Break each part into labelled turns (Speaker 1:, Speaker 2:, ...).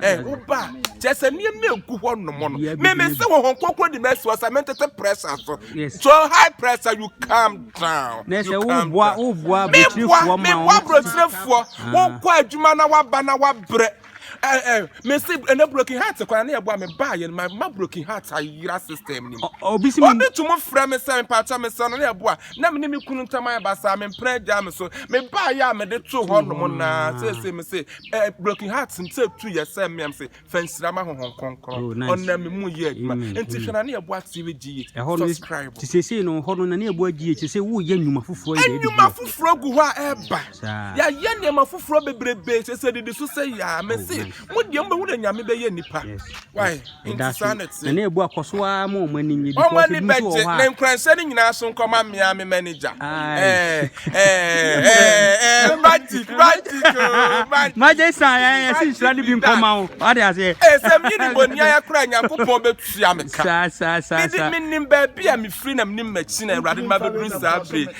Speaker 1: Ɛ woba a, kyerɛ sɛ nneɛma egu hɔ nom no. Meme sɛ wɔ hɔn kɔkɔ di mɛsi wɔ sɛ mentete pressure so. So high pressure you calm down. Na sɛ woboa
Speaker 2: woboa aburokyerɛfoɔ ma wɔn. Meboa aburokyerɛfoɔ.
Speaker 1: Ah. Wɔkɔ adwuma na waba na wabrɛ. Ɛ ɛ mesi ɛnɛ broken heart kɔ na ne ɛboa me ba yɛn ma ma broken heart ayira system ni mu. Obi si mi. Obi tum
Speaker 2: frɛ me sɛ
Speaker 1: mpakyɛ me sɛ no ne ɛboa na me ne me kunu ntam ayɛ basaa me mpere agya me so me ba yɛ a me de to hɔ nom na sɛ sɛ me sɛ Eh broken heart sɛ ɛtu yɛ sɛ mmea m se fa nsira ma honhom kronkron Oh nice ɔnam me mu yɛ adwuma Amen enti hwɛ Amen na ne ɛboa TV GH Ɛhɔ no subscribe te seesei no hɔ no
Speaker 2: na ne ɛboa GH te sɛ woreyɛ nnwuma foforɔ yi deɛ ɛde Nnwuma GH foforɔ gu hɔ
Speaker 1: a ɛreba saa Yɛayɛ nneɛma foforɔ bebrebe kyerɛ sɛ ɛdidi so sɛ yaa Me Oh se nice mo deɛ mobɛhu na Nyame bɛyɛ nnipa yes yes Why? Enti saa na ɛte. Na na ebu akɔ so ara
Speaker 2: ma wɔn ani nye because Wɔn ani ebi nso wɔ bɛgye hɔ a.
Speaker 1: ne nkuranhyɛ no nyinaa so nkɔma mmea me manager. Aye. Eh, eh, eh, eh, magic, magic, oh,
Speaker 2: magic. Magye sa yɛ yɛ si Magic nhyira no be bi nkɔma done. wo. Wate aseɛ. Eh, sɛ menye ne bɔne
Speaker 1: ayɛ koraa a, Nyankopɔn bɛtua me ka. Saa saa saa Mede saa. menim
Speaker 2: baabi a
Speaker 1: mefiri na menim m'akyi na Awurade de mabɛduru saa bere yi.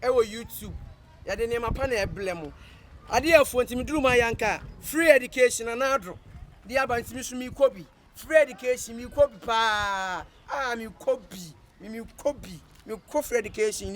Speaker 3: ɛwɔ YouTube. Yɛde nneɛma pa na ɛbrɛ mo. Adeɛ afuo nti meduru mu ayanka a free education anaa adoro de aba nti me so mekɔ bi. Free education mekɔ bi paa. Ah mekɔ bi. Mekɔ bi. Mekɔ free education.